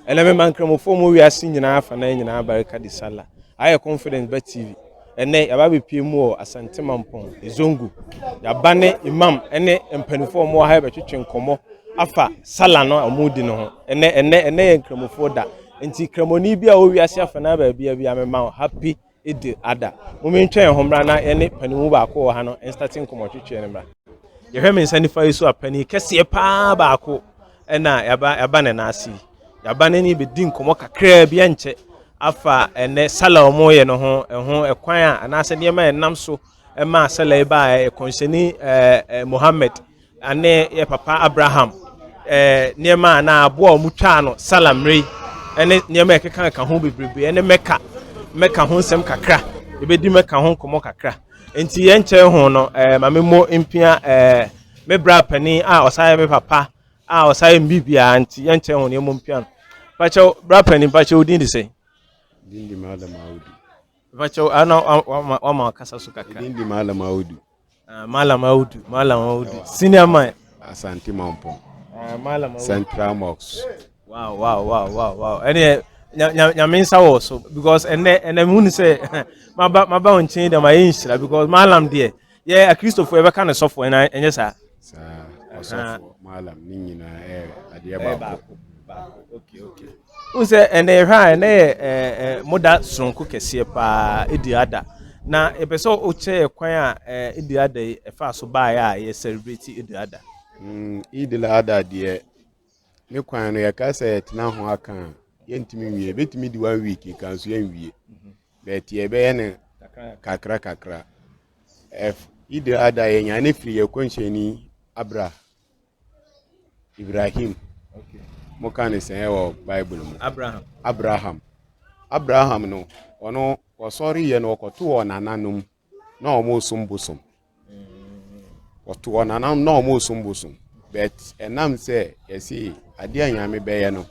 Ɛnɛ mema Nkramofoɔ mu wiase nyinaa afanan nyinaa barika de Sallah. Aha yɛ Confidence Bet TV. Ɛnɛ yɛaba abɛpie mu wɔ Asante Mampɔn, Ezongu. Yɛaba ne Imam ne mpanimfoɔ a wɔwɔ ha yɛbɛtwetwe nkɔmmɔ afa Sallah no a wɔredi no ho. Ɛnɛ ɛnɛ ɛnɛ yɛ Nkramofoɔ da. Nti Kramoni bi a ɔwɔ wiase afanan baabiara biara mema wo happy Edir Ada. Mom ntwa yɛn ho mmra na yɛne panin mu baako wɔ ha no nstate nkɔmmɔtwetweɛ no mmra. Yɛhwɛ me nsa nifa yi so a, panin kɛseɛ paa baako na yɛaba, yɛaba ne nan ase yi. Yɛaba ne ne bɛdi nkɔmmɔ kakraa bi ɛnkyɛ afa ɛnɛ sala a wɔyɛ no ho, ɛho ɛkwan a anaasɛ nneɛma a ɛnam so ɛmaa sɛlɛ yi baa ɛ kɔnhyɛni ɛ mohammed ane yɛ papa abraham ɛ nneɛma a na aboa a wɔn twaa no salamere ɛne nneɛma a ɛkeka ka ho bebrebe ɛne mɛka mɛka ho nsɛm kakra ebedi mɛka ho nkɔmɔ kakra nti yɛn kyɛn ho no ɛ maame mo mpia ɛ me bra panin a ɔsan yɛ me papa a ɔsan yɛ me biribiara nti yɛn kyɛn ho no yɛn mo mpia no pakyɛw bra panin pakyɛw din de sɛ. Din de madam audi. Mpakyɛw a na wama wama akasa so kakra. Ɛdin di Malam Audu. Uh, Malam Audu, Malam Audu. Senior man. Asante Mampong. Uh, Malam Audu. Central Mosque. Wow, wow, wow, wow, wow. Ɛnɛ nyame nsa wɔ so because ɛnɛ ɛnɛ mu ni sɛ maba maba wɔn nkyɛn dɛm ayɛ nhyira because Malam deɛ. yɛ akristofo yɛbɛka no sɔfo ɛna ɛnyɛ saa saa ɔsɔfo malam ne nyinaa ɛyɛ adeɛ baako wohu sɛ ɛnɛ yɛhwɛ a ɛnɛ yɛ moda soronko kɛseɛ paa ɛdi ada na ɛpɛ sɛ wokyɛ yɛ kwan a ɛdi ada yi ɛfa so baeɛ a yɛ celebrate ɛdi ada mm, idil ada deɛ ne kwan no yɛka sɛ yɛtena ho aka a yɛntumi nwie ɛbɛtumi di one week nka nso yɛnwie but yɛbɛyɛ no kakra kakra idil ada yɛnya ne firi yɛ kɔnhyɛni abra ibrahim moka ne sɛn wɔ bible mu abraham abraham abraham no ɔno ɔsɔre yɛ no ɔkɔto wɔ nananom na ɔmo nsom bosom ɔto wɔn anam na ɔmo nsom bosom bɛt ɛnam sɛ yɛsi adeɛ a nyame bɛyɛ no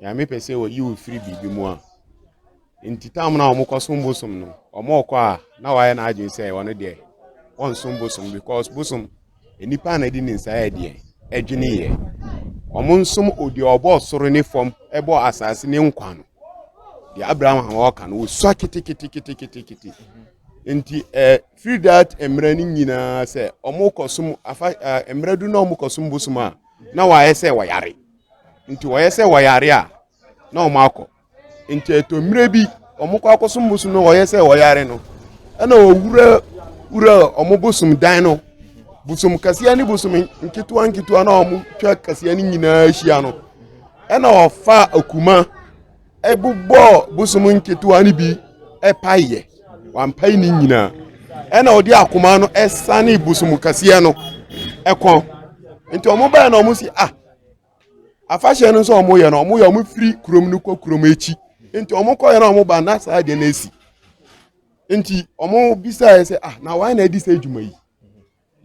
nyame pɛ sɛ ɔyi wo firi biribi mu a nti tam na ɔmo kɔsom bosom no ɔmo ɔkɔ a na wayɛ n'adwene sɛ ɔno deɛ ɔnsom bosom because bosom nnipa na ɛde ne nsa yɛ deɛ ɛdwene yɛ ɔmo nsom odeɛ ɔbɔ soro ne fam ɛbɔ asase ne nkwa no deɛ abraham a wɔka no wɔsua keteketeketekete nti ɛɛ firi dat mmerɛ no nyinaa sɛ wɔkɔsom afa ɛɛ mmerɛ du na wɔkɔsom bosom a na wɔayɛ sɛ wɔyare nti wɔyɛ sɛ wɔyare a na wɔn akɔ nti ɛtɔ mmerɛ bi wɔn kɔ akɔsom bosom no wɔyɛ sɛ wɔyare no ɛna wɔwura wura wɔn bosom dan no bosom kaseɛ ne bosom nketewa nketewa na wɔn twa kaseɛ no nyinaa hyia no. ɛna ɔfaa akuma ɛbobɔɔ bosom nketewa no bi ɛpaeɛ wampae ne nyinaa ɛna ɔde akoma no ɛsane bosom kɛseɛ no ɛkɔn nti ɔmo bɛyɛ na ɔmo si ah afahyɛ no nso ɔmo yɛ no ɔmo yɛ ɔmo firi kurom no kɔ kurom akyi nti ɔmo kɔyɛ na ɔmo ba na saa deɛ na esi nti ɔmo bisaeɛ sɛ ah na wɔn na adi sɛ adwuma yi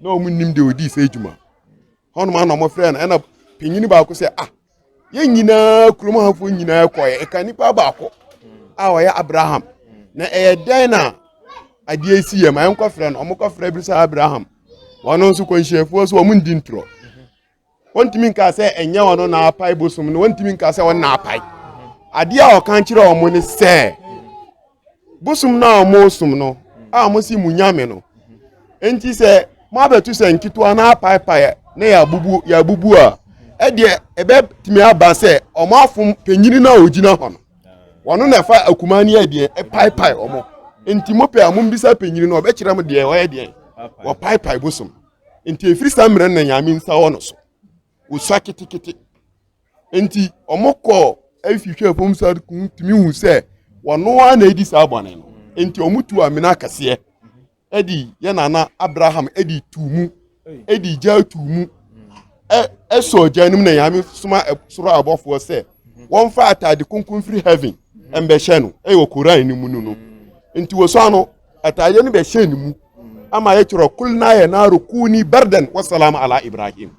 na wɔn nim deɛ ɔdii sɛ adwuma hɔnom ana wɔn frɛ no ɛna panyin baako sɛ ah yɛn nyinaa kurom hafoɔ nyinaa kɔɛ ɛka nipa baako a ɔyɛ abraham na ɛyɛ dɛn na adeɛ si yɛ ma yɛn kɔfrɛ no wɔn kɔfrɛ bi sɛ abraham wɔn nso kɔnhyɛnfoɔ so wɔn ndi ntorɔ. wɔntumi nkaa sɛ ɛnyɛ ɔno na apae bosom no wɔntumi nkaa sɛ ɔno na apae adeɛ a ɔka nkyerɛ wɔn ne sɛ bosom no a wɔsom no a wɔsi mu nyame no nti sɛ moabɛto sɛ nketewa na apaepae na yɛabubu yɛabubu a ɛdeɛ ɛbɛtumi aba sɛ wɔn afom panyini no a ɔgyina hɔ no wɔn na ɛfa akuma ne ɛdeɛ ɛpaepae wɔn nti mopɛ a mombisa panyini no ɔbɛkyerɛ mo deɛ ɔyɛ deɛ wɔpaepae bosom nti ɛfiri saa mmerɛ na nyame nsa wɔ no so wosua ketekete nti ɔmokɔɔ afihwɛ fam sa tumi hu sɛ wɔno a na ɛdi saa bɔne no nti ɔmotu amena akɛseɛ ɛde yɛ nana abraham ɛde tu mu ɛde gya tu mu ɛsɔ gya no mu na nyame soma soro abɔfoɔ sɛ wɔmfa atade kronkron firi heaven ɛmbɛhyɛ no ɛyɛ wɔ koran no mu no no nti wɔsua no Ataadeɛ no bɛhyɛɛ ne mu ama yɛtwerɛ kulna yɛ naaro kuni bardan wasalama ala ibrahim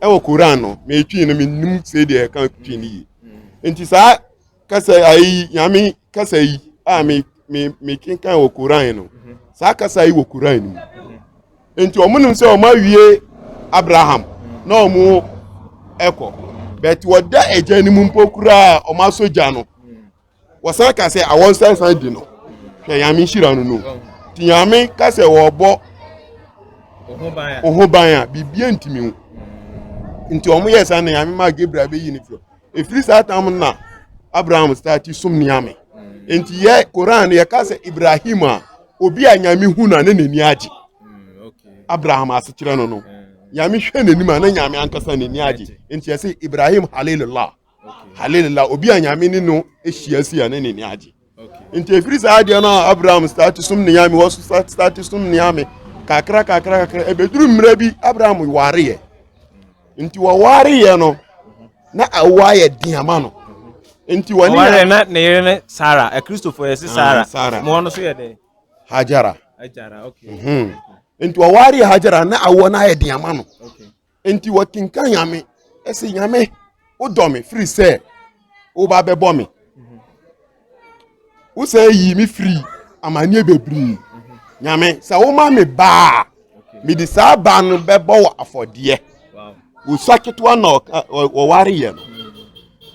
ɛwɔ koran no metwii no menim sɛ deɛ ɛka twi no yie nti saa kasa ayi nyame kasa yi a me me me kenkan wɔ koran no saa kasa yi wɔ koran no mu nti wɔn nim sɛ wɔn awie abraham na wɔn ɛkɔ bɛti wɔda ɛgya no mu mpo koraa wɔn asɔ gya no wɔsan ka sɛ awɔ nsansan di no hwɛ nyame nhyira no no nti nyame ka sɛ wɔbɔ ɔho ban a biribia ntimi ho nti wɔn yɛ saa na nyame maa gabriel bɛyi ne firi ɛfiri saa tam no na abraham stati som neame nti yɛ koran no yɛka sɛ ibrahim a obi a nyame hu no a ne n'ani agye mm, abraham asekyerɛ no no mm. nyame hwɛ n'anim a na nyame ankasa n'ani agye nti yɛsɛ ibrahim halilullah hallelujah obi a nyame ne no ahyia si a ne ne ne agye nti ɛfiri saa adeɛ no a abraham start som ne nyame wɔ so start som ne nyame kakra kakra kakra ɛbɛduru mmerɛ bi abraham wareɛ nti wɔwareɛ no na awo ayɛ den ama no nti wɔne wɔwareɛ na ne yere ne sara akristofoɔ yɛ se sara ah, sara mo no so yɛ dɛ hajara hajara okay mhm. nti wɔwareɛ hajara na awo no ayɛ den ama no okay Enti wɔkenkan Nyame ɛsɛ Nyame wodɔ me firi sɛ woba bɛbɔ me wosɛ yi me firi amanneɛ bebree Nyame sɛ woma me baa mede saa baa no bɛbɔ wɔ afɔdeɛ wosua ketewa na ɔware yɛ no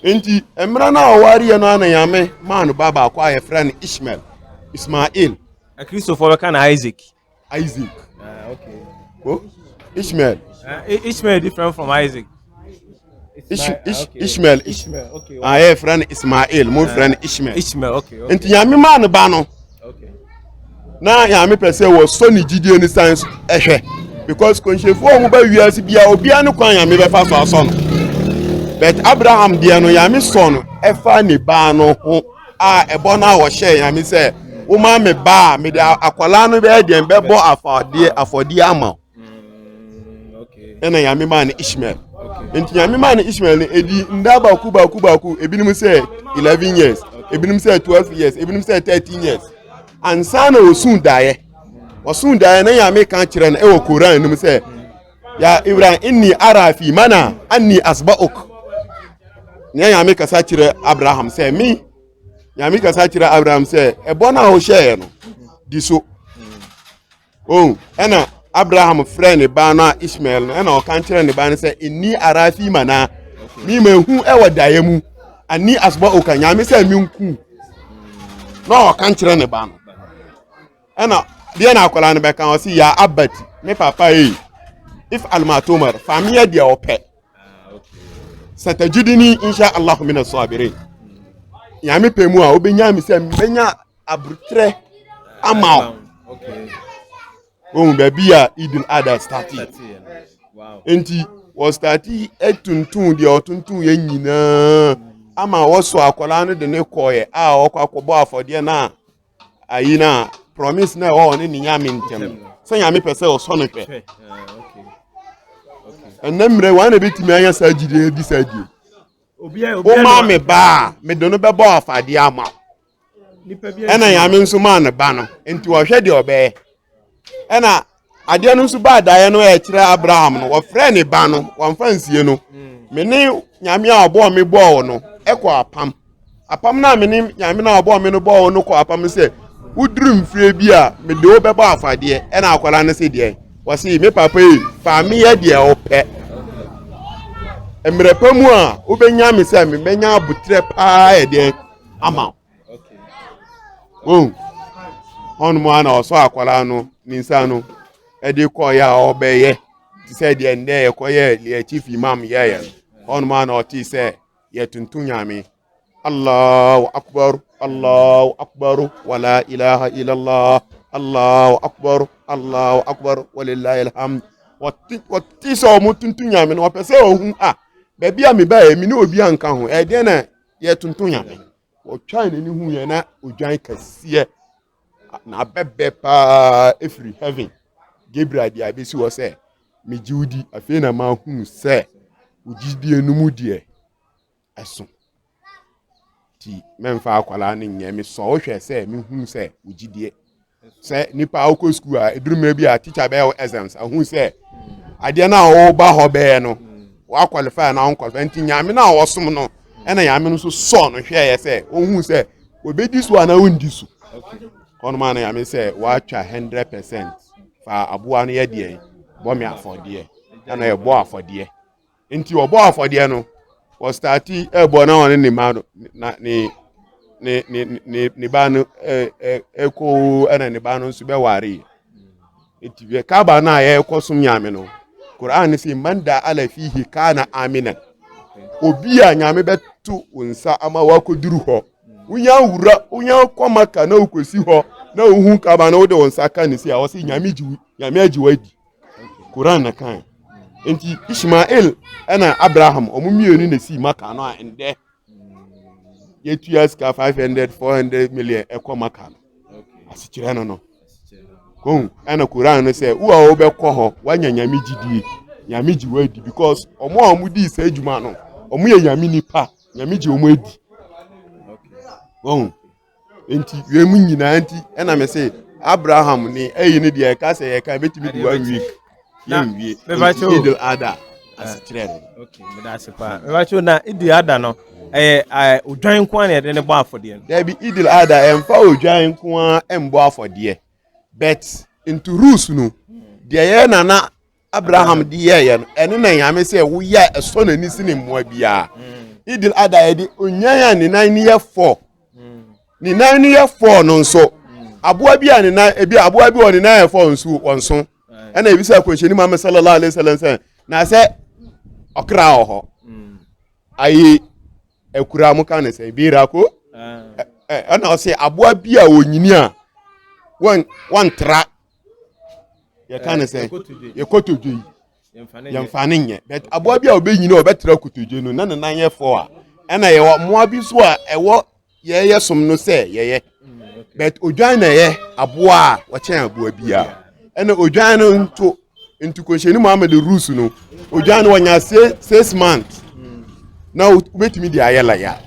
enti mmerɛ no a ɔware yɛ no ana Nyame maa no ba baako a yɛfrɛ no Ishmael Ismail akristofoɔ bɛka no Isaac Isaac. Uh, okay. Oh, Ishmael. Uh, Ishmael different from Isaac. Ish, Ish, okay. Ishmael. Ishmael. Okay. Ah, yeah, friend Ismail. Mo friend Ishmael. Ishmael. Okay. okay. Nti yami maa ne ba no. Okay. Na yami pɛ sɛ wɔ sɔ ne gyidie ne san ɛhwɛ because kɔnhyɛnfo a wɔn bɛ wiase bia obiara ne kwan yami bɛfa so asɔ no but Abraham deɛ no yami sɔ no ɛfa ne ba no ho. a ɛbɔ no a wɔhyɛɛ nyame sɛ woma me ba a mede akwadaa no bɛyɛ deɛn bɛbɔ afɔdeɛ afɔdeɛ ama wo mm, ɛna nyame maa no ishmael nti nyame maa no ishmael no ɛdi nda baako baako baako ebinom sɛ 11 years ebinom sɛ 12 years ebinom sɛ 13 years ansa na wɔsuu daeɛ wɔsuu daeɛ na nyame ka kyerɛ no ɛwɔ koran no mu sɛ ya ibrahim inni ara fi mana anni asba'uk nea nyame kasa kyerɛ abraham sɛ me nyame kasa kyerɛ abraham sɛ ɛbɔ no a wohyɛeɛ no di so oh ɛna abraham frɛ ne ba no a ismael no ɛna ɔka kyerɛ ne ba no sɛ inni ara fi mana me mahu ɛwɔ daeɛ mu anni asba'uka nyame sɛ menku na ɔka kyerɛ ne ba no ɛna deɛ na akwadaa no bɛka ɔsi yɛ abati ne papa yi if almatomar faamiya deɛ ɔpɛ satajidini insha allah mina sɔabere nyame pɛ mu a wobɛnya mi sɛ mbɛnya aburukyerɛ ama o ohun baabi a idin ada stati nti wɔstati atuntun deɛ ɔtuntun yɛ nyinaa ama wɔsɔ akwadaa no de ne kɔɛ a ɔkɔ akɔbɔ afɔdeɛ no a ayi no a promise na ɛwɔ ɔne ne nyame ntɛm sɛ nyame pɛ sɛ ɔsɔ no hwɛ ɛnɛ mmerɛ wɔn na ɛbɛtumi anya saa gyidie adi saa die woma me baa mede no bɛbɔ afadeɛ ama wo ɛna nyame nso maa ne ba no nti ɔhwɛ deɛ ɔbɛyɛ ɛna adeɛ no nso baa daeɛ no ɛkyerɛ abraham no wɔfrɛ ne ba no wɔmfa nsie no me ne nyame a ɔbɔɔ me bɔɔ no ɛkɔ apam apam no a me ne nyame no a ɔbɔɔ me no bɔɔ no kɔ apam sɛ woduru mfie bi a mede wo bɛbɔ afadeɛ ɛna akwadaa no sɛ deɛ wɔse me papa yi fa meyɛ deɛ wopɛ mmerɛ pa mu a wobɛnya me sɛ mebɛnya aboterɛ paa ɛdeɛ ama wo oh ɔnom a na ɔsɔ akwadaa no ne nsa no ɛde kɔɔyɛ a ɔbɛyɛ te sɛ deɛ ndɛ yɛkɔyɛ deɛ chief imam yɛyɛ no ɔnom a na ɔte sɛ yɛtonto nyame allahu akbar allahu akbar wala ilaha illallah allahu akbar allahu akbar walilahi alhamd wɔte sɛ ɔmo tonto nyame no ɔpɛ sɛ ɔhu a baabi a mebɛɛ me ne obi anka ho ɛdeɛ na yɛtonto nyame ɔtwae n'ani hu yɛn na odwan kɛseɛ na abɛbɛ paa ɛfiri heaven gabriel deɛ abɛsi hɔ sɛ megye wo di afei na mahunu sɛ wogyidie no mu deɛ ɛso nti mɛmfa akwadaa no nyɛ mesɔ wohwɛ sɛ mehunu sɛ wogyidie sɛ nipa ɔkɔ sukuu a eduru mmerɛ bi a teacher bɛyɛ wɔ exams ahu sɛ adeɛ no a ɔba hɔ bɛyɛ no wakwalify na ɔnkwalify nti nyame no a ɔsom no ɛna nyame no nso sɔɔ no hwɛɛyɛ sɛ ɔhu sɛ obɛdi so anaa ɔndi so ɔnoma no nyame sɛ watwa 100 percent fa aboa no yɛ deɛ bɔ me afɔdeɛ ɛna ɛbɔ afɔdeɛ nti ɔbɔɔ afɔdeɛ no wɔstate ɛbɔ na ɔne ne ma no na ne ne ne ne ne ba no ɛ ɛ ɛkoo ɛna ne ba no nso bɛwaree nti yɛ kaaba no a yɛrekɔ som nyame no koran no sɛ man da ala fihi kana amina obi a nyame bɛto wo nsa ama woakɔduru hɔ wonya wura wonya kɔ maka na wokɔsi hɔ na wohu kaaba no wode wo nsa ka ne si a ɔse nyame gye wo nyame agye wo adi Koran na kan. Nti Ishmael ɛna Abraham ɔmo mmienu na esi maka no a ndɛ yɛtua sika five hundred four hundred million ɛkɔ maka no asekyerɛ no no kɔn ɛna Koran no sɛ wo a wɔbɛkɔ hɔ wanya nyame gyidie nyame gye wɔn adi because ɔmo a ɔmo di saa adwuma no ɔmo yɛ nyame nipa nyame gye ɔmo adi wɔn. nti wei mu nyinaa nti ɛna me se abraham ne ɛyi ne deɛ ɛka sɛ yɛka ɛbɛtumi di one week yɛnwie nti idil ada asekyerɛ no mebakyɛw na idil ada no ɛyɛ odwan nko a na yɛde ne bɔ afɔdeɛ no daabi idil ada ɛmfa odwan nko a ɛmbɔ afɔdeɛ but nti rules no deɛ yɛ nana abraham de yɛɛyɛ no ɛne na nyame sɛ woyɛ a ɛsɔ n'ani se ne mmoa biara idil ada yɛde onyan a ne nan ne yɛ fɔɔ ne nan ne yɛ fɔɔ no nso aboa bi a ne nan ebi aboa bi wɔ ne nan yɛ fɔɔ nso wɔn so ɛna ebi sɛ akɔnhyɛni muhammed sallallahu alayhi wa sallam sɛ na sɛ ɔkra wɔ hɔ ayi akura mo ka ne sɛ ebi ra ko ɛna ɔsɛ aboa bi a onyini a wɔn wɔn tra. yɛka ne sɛ yɛkotodwe yi yɛmfa ne nyɛ but aboa bi a ɔbɛnyini a ɔbɛtra kotodwe no na ne nan yɛ fɔ a ɛna yɛwɔ mmoa bi so a ɛwɔ yɛyɛ som no sɛ yɛyɛ but odwan na ɛyɛ aboa a wɔkyɛn aboa biara ɛna odwan no nto ntukohyɛni muhammed rules no odwan no wɔnya six months na wobɛtumi de ayɛ laya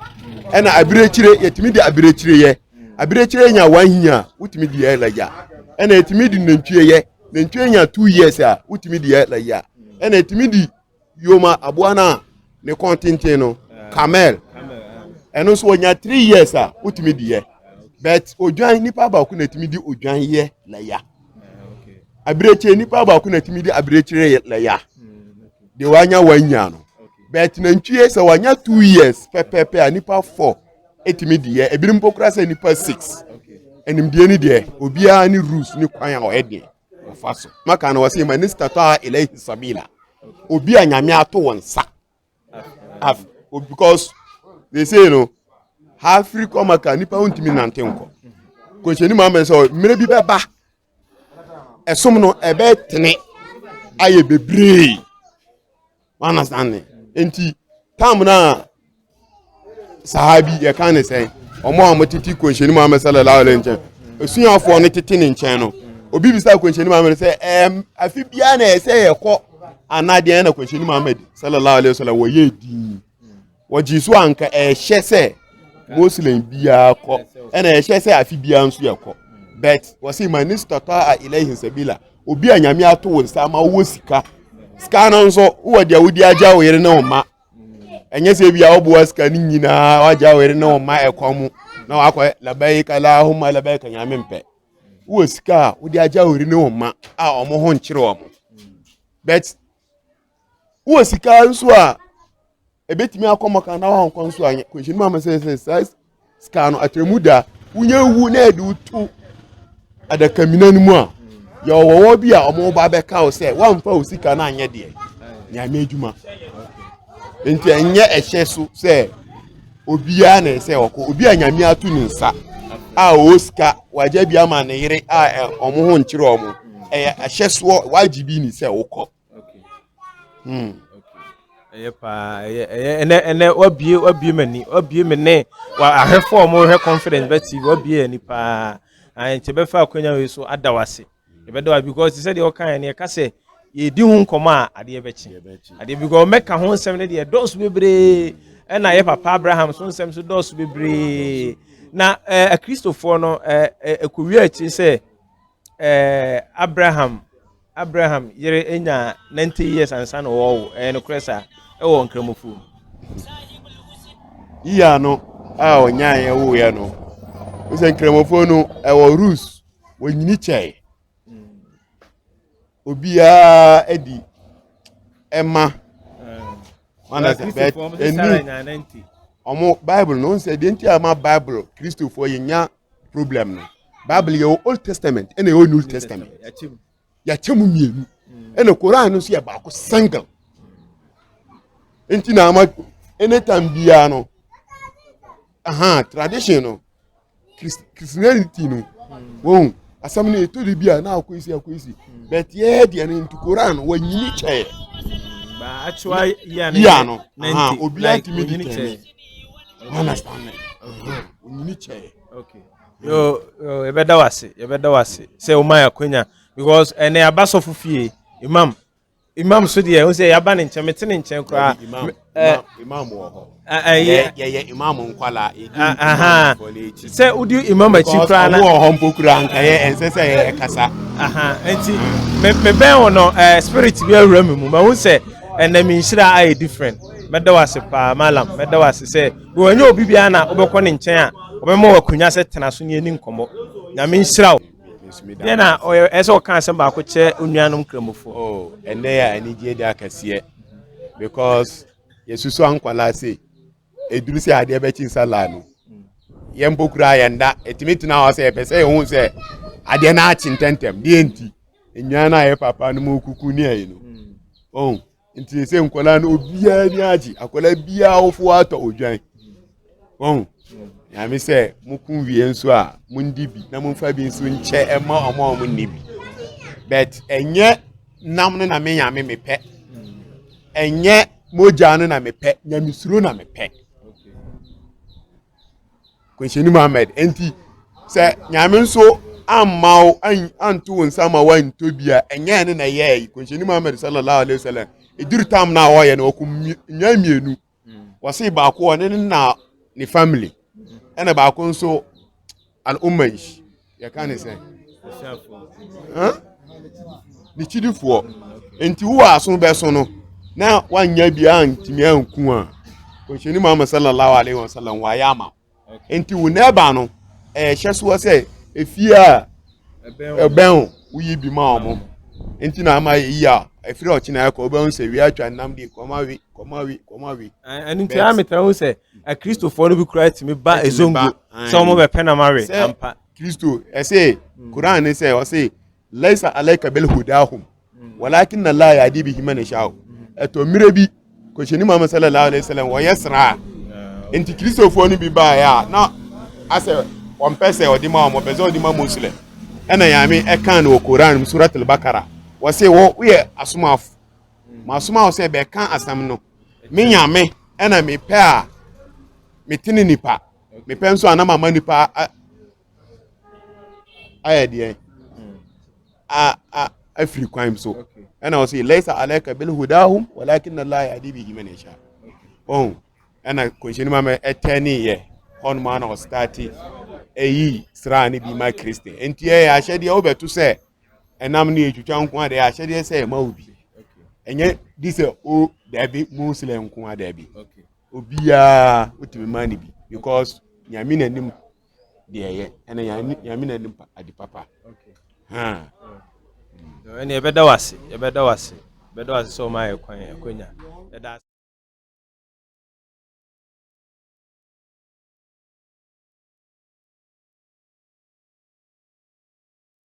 ɛna abirekyire yɛtumi de abirekyire yɛ abirekyire nya one year a wotumi di yɛ lagya ɛna etumi di nantwie yɛ nantwie nya two years a wotumi di yɛ lagya ɛna etumi di yoma aboa no a ne kɔn tenten no camel ɛno nso wɔnya three years a wotumi di yɛ but odwan nipa baako na etumi di odwan yɛ lagya abirekyire nipa baako na etumi di abirekyire yɛ lagya deɛ wanya one year no but nantwie sɛ wanya two years pɛpɛpɛ a nipa four. ɛtumi di yɛ ebinom mpo kura sɛ nipa six animdeɛ ni deɛ obiara ne rules ne kwan a ɔyɛ deɛ ɔfa so maka no wɔsɛ ma ne statɔ a ɛlɛhi sabila obi a nyame ato wɔn nsa because they say no ha afiri kɔ maka nipa ho ntumi nante nkɔ kɔnhyɛni mu amɛ sɛ mmerɛ bi bɛba ɛsom no ɛbɛtene ayɛ bebree understand ne nti tam no a sahabi yɛka ne sɛn ɔmo a ɔmo tete kɔnhyɛni muhammed sallallahu alaihi nkyɛn osuafoɔ no tete ne nkyɛn no obi bisa kɔnhyɛni muhammed sɛ ɛɛm afi biara na ɛsɛ yɛkɔ anadeɛ na kɔnhyɛni muhammed sallallahu alaihi wasallam wɔyɛ dii. wɔgyee so a anka ɛhyɛ sɛ muslim biara kɔ ɛna ɛhyɛ sɛ afi biara nso yɛ kɔ but wɔsi ma ne sitɔtɔ a ilahi sabila obi a nyame ato wo nsa ama wowɔ sika sika no nso wowɔ deɛ wode agya wo yere ne wo ma ɛnyɛ sɛ bi a woboa sika no nyinaa woagya wo yere ne wo ma ɛkwa mu na wakɔ labaika lahoma labaika nyame mpɛ wowɔ sika a wode agya wo yere ne wo ma a ɔmo ho nkyere ɔmo but wowɔ sika nso a ɛbɛtumi akɔ mmɔka na wankɔ nso a kɔnhyɛni mu ama sɛ sɛ saa sika no atrɛmu da wonya wu na ɛde woto adakamina no mu a yɛ ɔwɔwɔ bi a ɔmo ba bɛka wo sɛ woamfa wo sika no anyɛ deɛ nyame adwuma nti ɛnyɛ ɛhyɛ so sɛ obiara na ɛsɛ ɔkɔ obi a nyame ato ne nsa a ɔwɔ sika wagya bi ama ne yere a ɔmo ho nkyerɛ ɔmo ɛyɛ ahyɛ soɔ wagye bi ne sɛ wokɔ Hmm. ɛyɛ paa ɛyɛ ɛyɛ ɛnɛ ɛnɛ wabie wabie mu ani wabie mu ne wa ahwɛfo a wɔhwɛ confidence bɛ tv wabie ani paa ayi nti bɛfa akonya wei so ada wase yɛbɛda wa because sɛ deɛ ɔka yɛ no yɛka sɛ yɛdi ho nkɔmɔ a adeɛ bɛkye adeɛ because mɛka ho nsɛm no deɛ dɔɔso bebree ɛna yɛ papa abraham so nsɛm so dɔɔso bebree na ɛɛ akristofoɔ no ɛɛ ɛkowia akyiri sɛ ɛɛ abraham. Abraham yere nyaa 90 years ansa na wɔwo. Ɛyɛ nokorɛ saa? Ɛwɔ Nkramofo mu. Yia no a ɔnyaeɛ woeɛ no, wosɛ Nkramofo no ɛwɔ rules, wɔnyini kyɛe. Obiara adi ɛma. Wana sɛ bɛt ɛni ɔmo Bible no nsɛ deɛ nti a ma Bible Kristofoɔ yɛnya problem no bible yɛ wɔ old testament ɛna ɛwɔ new testament yɛakyɛ mu mmienu ɛna koran no nso yɛ baako sangam nti na ama anytime biara no aha tradition no christianity no wɔn asɛm no ɛtɔ de bi a na akɔ esi akɔ esi but yɛyɛ deɛ no nti koran no wɔnyini kyɛɛ yia no obiara tumi di tɛnɛ understanding onyini kyɛɛ yo yɛbɛda wo ase yɛbɛda wo ase sɛ woma yɛ akwanya because ɛnɛ yɛaba sɔfo fie imam imam so deɛ wo sɛ yɛaba ne nkyɛn mete ne nkyɛn koraa imam wɔ hɔ yɛyɛ imam nkwala sɛ wodi imam akyi koraa na wɔ hɔ mpo kura nka yɛ ɛnsɛ sɛ yɛ kasa nti mebɛn wo no spirit bi awura me mu mahu sɛ ɛnɛ menhyira ayɛ different mɛda wo ase paa malam mɛda wo ase sɛ wɔnyɛ obi biara na wobɛkɔ ne nkyɛn a wɔbɛma wɔ akonnwa sɛ tena so ne ani nkɔmmɔ nyame nhyira wo deɛ na ɛyɛ sɛ wɔka asɛm baako kyerɛ onuanom kramofoɔ oh, ɛnɛ yɛ anigyeɛ de akɛseɛ because yɛsusu ankwalaa se ɛduru sɛ adeɛ bɛkye nsa laa no yɛn mpo koraa yɛn da ɛtumi tena hɔ sɛ yɛpɛ sɛ yɛhu sɛ adeɛ no akye ntɛntɛm deɛ nti nnwan no a yɛ papa no mu kuku ne ayi no ɔhu oh. nti sɛ nkwadaa no obiara ni agye akwadaa biara awofo atɔ odwan wɔn nyame sɛ mo ko wie nso a mo ndi bi na mo nfa bi nso nkyɛ ɛma ɔmo a ɔmo nni bi bɛt ɛnyɛ nam no na me nyame me pɛ ɛnyɛ mogya no na me pɛ nyamesuro na me pɛ. kwanhyɛni muhammed nti sɛ nyame nso amma wo anto wo nsa ma woantɔ bi a ɛnyɛ ne na ɛyɛɛ yi kwanhyɛni muhammed sallallahu alaihi wasallam ɛduru tam no a wɔyɛ no wɔko nnwa mmienu wɔse baako ɔne ne na ne family ɛna baako nso al umma yi yɛka ne sɛ ne kyidifoɔ nti wowɔ aso bɛso no na wanya biara ntumi anku a kɔnhyɛni muhammad sallallahu alaihi wa sallam wayɛ ama nti wo na ɛba no ɛhyɛ soɔ sɛ efie a ɛbɛn wo woyi bi ma ɔmo nti na ama yɛyi a ɛfiri ɔkyena ɛkɔ wobɛhu sɛ wei atwa nnam de kɔma we kɔma we kɔma we ɛno nti a metɛ ho sɛ Akristofoɔ no bi koraa tumi ba ezongo sɛ wɔn bɛpɛ na mawe ampa. Kristo ɛsɛ hmm. Koran ne sɛ ɔsɛ laisa alaika bel hudahum hmm. walakin na laa yadi bi hima na hyaaw ɛtɔ mmerɛ bi kɔhyɛni muhammad sallallahu alaihi wasallam wɔyɛ sraa nti kristofoɔ no bi baeɛ a na asɛ wɔmpɛ sɛ ɔde ma wɔn ɔpɛ sɛ ɔde ma muslim ɛna yame ɛkan no wɔ koran mu surat al-bakara wɔsɛ wɔ woyɛ asomafo hmm. ma asoma wo sɛ bɛka asɛm no Me Nyame na mepɛ a mete ne nipa, mepɛ nso a na mama nipa ayɛ deɛ afiri kwan so. Ɛna ɔsi laisa alaika bil hudahum walakin na laa yadi bi himan yasha. Ɔn ɛna kɔnhyɛni ma mɛ ɛtɛ ne yɛ hɔnom ana ɔstati ɛyi sraa ne bi ma kristian. Nti ɛyɛ ahyɛdeɛ wobɛto sɛ ɛnam ne etwitwa nko adeɛ ahyɛdeɛ sɛ ɛma obi ɛnyɛ di sɛ o daabi muslim nko a daabi obiara wotumi ma ne bi because nyame n'anim deɛ ɛyɛ ɛna nyame n'anim ade papa ha ɛne yɛbɛda wo ase yɛbɛda wo ase yɛbɛda wo ase sɛ ɔma yɛ kwan akwanya ɛda